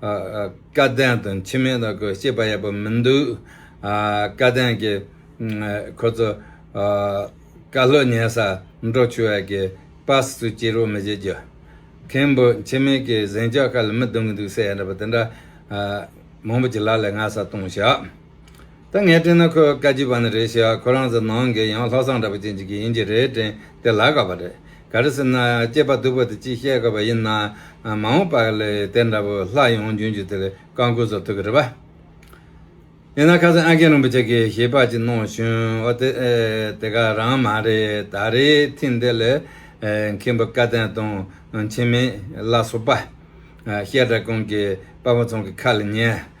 བཀའ་བསྟན་དང་ཕྱི་མའི་ལ་གོ་ཤེས་པ་ཡག་པོ་མི་འདུག། བཀའ་བསྟན་གྱི་ཁོ་ཚོ་བཀའ་སློབ་ཉན་ས་འབྲོག་ཆུ་བ་གི་པར་སུ་སྐྱེལ་རོགས་མི་བྱེད་རྒྱུ། མཁན་པོ་འཆི་མེད་ཀྱི་གཟེངས་ཆག་ཁ་ལ་མི་བསྡུ་གི་འདུག་ཟེར་ཡ་འདྲ་པ་དེ་འདྲ་མང་པོ་གྱི་ལག་ལས་སྔ་ས་གཏོང་ཤག། ད་ངས་དྲན་ན་ཁོས་བཀའ་སྤྱི་པ་ནི་རེད་ཤག་ཁོ་རང་ཚོ་ནང་གི་ཡང་ལྷག་བསམ་འདྲ་པོ་ཅན་ཅིག་ཡིན་གྱི་རེད་དྲན་དེ་ལ་དགའ་བ་རེད་ག་རེ་ཟེར་ན་སྐྱེས་པ་སྡུག་པོ་དེ་ཅིག་བཤད་དགོས་པ་ཡིན་ན་མ་འོངས་པ་ལས་དེ་འདྲ་བོ་ལྷག་ཡོང་རྒྱུན་རྒྱུ་དེ་ལས་བཀའ་འཁོར་ཚོར་ཐུག་གི་རེད་པ། ཡིན་ན་ཁ་སང་ཨ་རྒན་རིན་པོ་ཆེ་གིས་ཞལ་དཔག་ཅིག་གནང་ཞོན་ཨོ་དེ་དེ་ག་རང་མ་རེད་ད་རེའི་ཐིན་དེ་ལས་མཁན་པོ་བཀའ་བསྟན་དང་འཆི་མེད་བླ་སོག་པ། བཤད་གྲྭ་ཀུན་གྱི་དཔའ་བོ་ཚང་གི་ཁ་ལ་ཉན།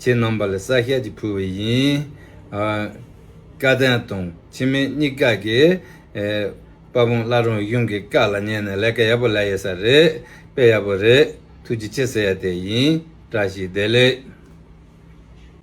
ཁྱེད་རྣམ་པ་ལ་བསགས་ཤད་ཅིག་ཕུལ་བས་ཡིན། བཀའ་བསྟན་དང་ཕྱི་མའི་གཉིས་ཀ་གི། དཔའ་བོང་བླ་རུང་གཡུང་གི་བཀའ་ལ་ཉན་ནས་ལས་ཀ་ཡག་པོ་ལས་ཡོད་ས་རེད། དཔེ་ཡག་པོ་རེད། ཐུགས་རྗེ་ཆེ་ཟེར་ཡ་དེ་ཡིན། བཀྲ་ཤིས་བདེ་ལེགས།